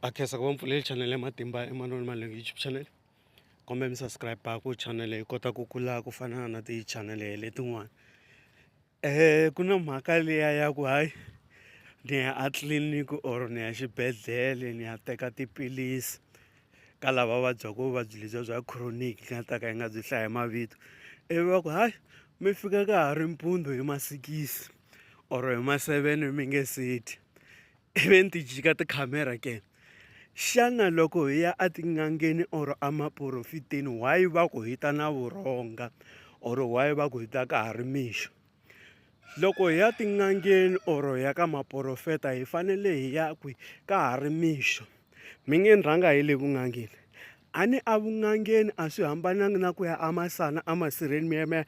a khensa ku va mpfuleli channel ya matimba emanoni malinga youtube channel kumbe mi subscribe ku channel yi kota ku kula ku fana na ti channel letin'wana um ku na mhaka liya ya ku hayi ni ya a tliliniki or ni ya xibedhlele ni ya teka tiphilisi ka lava vabyaka vuvabyi lebyiya bya chronic nga ta ka yi nga byi hlaya mavito ivi va ku hayi mi fika ka ha ri mpundzu hi masikisi. or hi ma seven mi nge se dyi i ve ni ti jika tikhamera ke xana loko hi ya etin'angeni or emaporofiteni why va ku hi ta na vurhonga or why va ku hi ta ka ha ri mixo loko hi ya tin'angeni or hi ya ka maporofeta hi fanele hi ya kwi ka ha ri mixo mi nge ni rhanga hi le vun'angeni a ni a vun'angeni a swi hambananga na ku ya a masana a masirheni mi ya mi ya.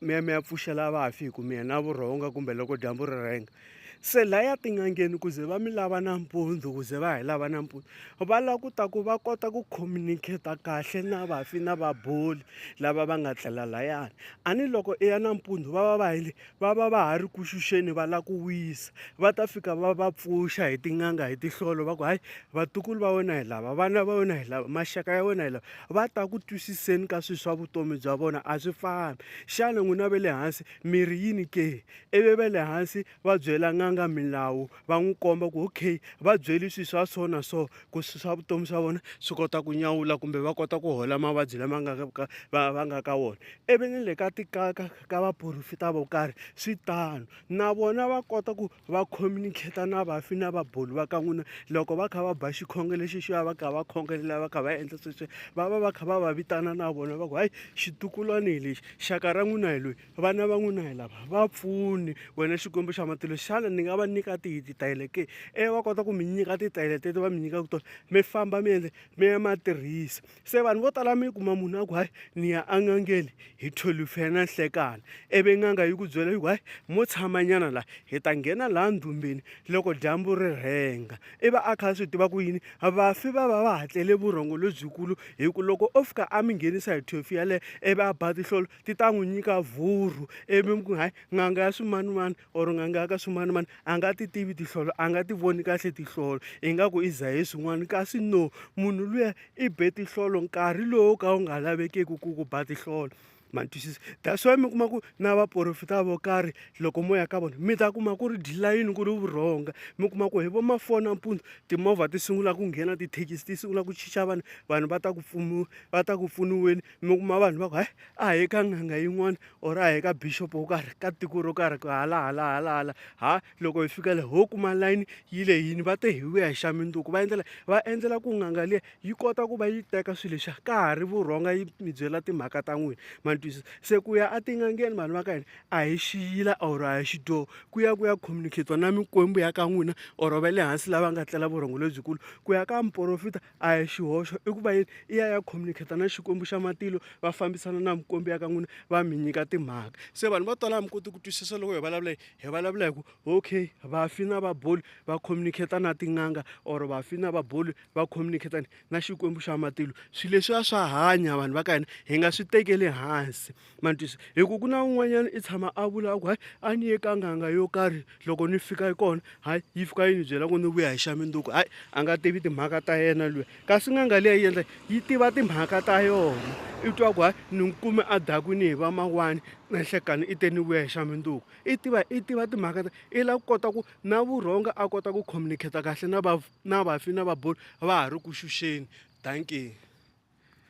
meme ya pfuxela vafi hi ku mi yena vurhonga kumbe loko dyambu ri rhenga se laya tin'angeni ku ze va mi lava nampundzu ku ze va hi lava nampundzu va lava ku ta ku va kota ku communicate-a kahle na vafi na vaboli lava va nga tlela layani a ni loko i ya nampundzu va va va hile va va va ha ri ku xuxeni va lava ku wisa va ta fika va va pfuxa hi tin'anga hi tihlolo va ku hayi vatukulu va wena hi lava vana va wena hi lava maxaka ya wena hi lava va ta ku twisiseni ka swilo swa vutomi bya vona a swi fani xana n'wina ve le hansi miri yini ke ivi ve le hansi va byela n'anga milawu va n'wi komba ku okay va byeli swilo swa so na so ku swilo swa vutomi swa vona swi kota ku nyawula kumbe va kota ku hola mavabyi lama nga ka va va nga ka wona ivi ni le ka tikaka ka vaporofita vo karhi swi tano na vona va kota ku va communicate-a na vafi na va boli va ka n'wina loko va kha va ba xikhongelo lexi xi va va kha va khongelela va kha va endla sweswo va va va kha va va vitana na vona va ku hayi xitukulwana hi lexi xaka ra n'wina hi loyi vana va n'wina hi lava va pfuni wena xikwembu xa matilo xana ni nga va nyika tihi titayele ke ivi va kota ku mi nyika titayele teto va mi nyikaka tona mi famba mi endle mi ya ma tirhisa se vanhu vo tala mi kuma munhu a ku hayi ni ya en'angeni hi thwelufe ya nanhlekana ivi n'anga yi ku byela yi ku hayi mo tshamanyana laha hi ta nghena laha ndhumbeni loko dyambu ri rhenga i va a kha a swi tiva ku yini vafi va va va hatlele vurhongo lebyikulu hi ku loko o fika a mi nghenisa hi thwefu yaleyo ivi a ba tihlolo ti ta n'wi nyika vhurhu ivi mi ku hayi n'anga ya swimanimani or ngangaka swimanimani a nga ti tivi tihlolo a nga ti voni kahle tihlolo ingaku i zahe swin'wana kasi no munhu luya i be tihlolo nkarhi lowu ka wu nga lavekeki ku ku ba tihlolo ma ni twisisa that's why mi kuma ku na vaporofita vo karhi loko mo ya ka vona mi ta kuma ku ri dilayini ku ri vurhonga mi kuma ku hi vo mafona mpundzu timovha ti sungula ku nghena tithekisi ti sungula ku chicha vanhu vanhu va ta ku pfuniwa va ta ku pfuniweni mi kuma vanhu va ku hayi a hi ka n'anga yin'wana or a hi ka bishop wo karhi ka tiko ro karhi ku hala hala hala hala ha loko hi fika le ho kuma layini yi le yini va te hi vuya hi xa minduku va endlela va endlela ku nganga liya yi kota ku va yi teka swilo lexa ka ha ri vurhonga yi mi byela timhaka ta n'wina ma twisisa se ku ya etin'angeni vanhu va ka hina a hi xiyila or a hi xidyoho ku ya ku ya communicatiwa na mikwembu ya ka n'wina or va le hansi lava nga tlela vurhongo lebyikulu ku ya ka muporofita A hi xihoxo i ku va yini i ya ya communicate na Xikwembu xa matilo va fambisana na mikwembu ya ka n'wina va mi nyika timhaka se vanhu va tala a mi koti ku twisisa loko hi vulavula hi vulavula hi ku okay vafi na vaboli va communicate na tin'anga or vafi na vaboli va communicate na Xikwembu xa matilo swilo leswiya swa hanya vanhu va ka hina hi nga swi tekeli hansi. ma ni twisa hi ku ku na un'wanyana i tshama a vula ku hayi a ni ye ka nganga yo karhi loko ni fika kona hayi yi fika yi ni byela ku ni vuya hi xa minduku hayi a nga tivi timhaka ta yena luya kasi nganga leyi endla yi tiva timhaka ta yona i twa ku hayi ni n'wi kume a dakwini hi va mawani na nhlekani i te ni vuya hi xa minduku i tiva i tiva timhaka ta i lava ku kota ku na vurhonga a kota ku communicate kahle na va na vafi na vabulu va ha ri ku xuxeni dankie